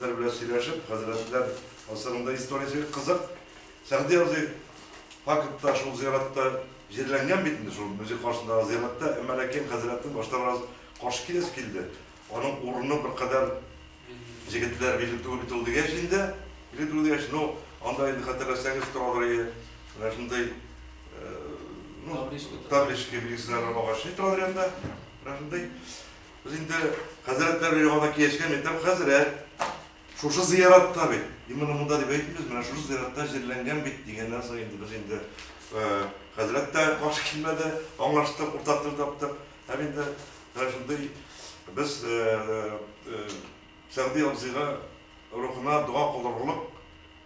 Хәзрәтләр белән сөйләшеп, хәзрәтләр гасырында историясе кызык. Сәгъди абзый фактта шул зиратта җирләнгән бит инде, шул музей каршындагы зиратта, әмма ләкин хәзрәтнең башта бераз каршы киләсе килде. Аның урыны беркадәр җегетләр биле түгел бит ул дигәч инде, биле түгел дигәч, ну, анда инде хәтерләсәгез торадыр иде, менә шундый табличка билгесе дә бар, агачный торадыр янында, менә шундый. Без инде хәзрәтләр яңадан киешкән мәктәп хәзрәт. Шушы зыяратта бит. Именно монда дип әйтмибез, менә шушы зыяратта җирләнгән бит дигәннән соң инде без инде хәзрәт тә каршы килмәде, аңлаштык, уртак тел таптык. Һәм инде менә шундый без Сәгъди абзыйга рухына дога кылдырырлык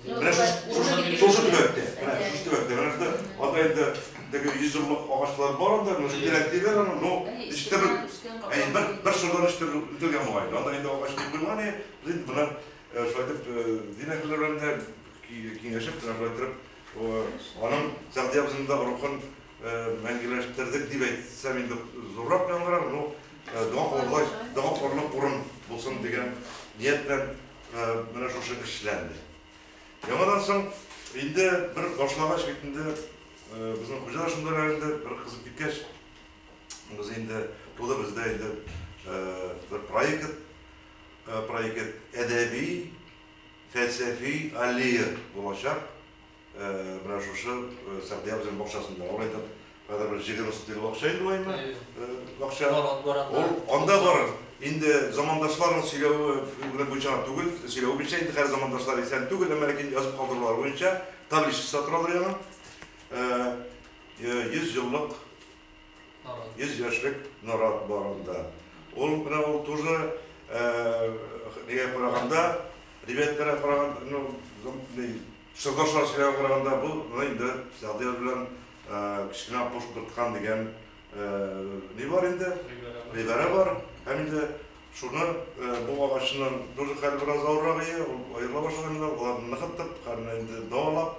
Менә шушы шушы төбәктә, менә шушы төбәктә, менә шунда атайда теге йөз еллык агачлар бар анда, менә шундый рәк диләр аны, ну, ишеттереп, әй, бер, бер шырдан ишеттереп үтелгән бугай. Анда инде агач дип булман, и, без инде моннан шулай итеп дин әһелләре белән дә киңәшеп, менә шулай итеп, аның Сәгъди абзыйның да рухын мәңгеләштердек дип әйтсәм инде зуррак яңгырар, ну, дога кылырлык, дога кылырлык урын булсын дигән ният белән Менә шушы эшләнде. Яңадан соң инде бер башлагач бит инде безнең хуҗа шунда районда бер кызып киткәч, без инде тулы бездә инде бер проект, проект әдәби, фәлсәфи аллея булачак. Менә шушы Сәгъди абзыйның бакчасында ул әйтеп, хәзер бер җиде рус тел бакча инде лайма. Бакча. Ул анда бар. Инде замандашларның сөйләве белән буенча түгел, сөйләве буенча инде хәзер замандашлар исән түгел, әмма ләкин язып калдырулар буенча табличкасы торалар яна. 100 еллык 100 яшьлек нарат бар анда. Ул менә ул тоже нигә караганда, ребятларга караганда, ну, Чокыр шарчыга караганда бу менә инде Садыяр белән кечкенә Аккош кырткан дигән ни бар инде, гыйбарә бар. Һәм инде шуны бу агачның тоже хәле бераз авыррак иде, ул аерыла башлаган инде, алар ныгытып, хәлне инде дәвалап,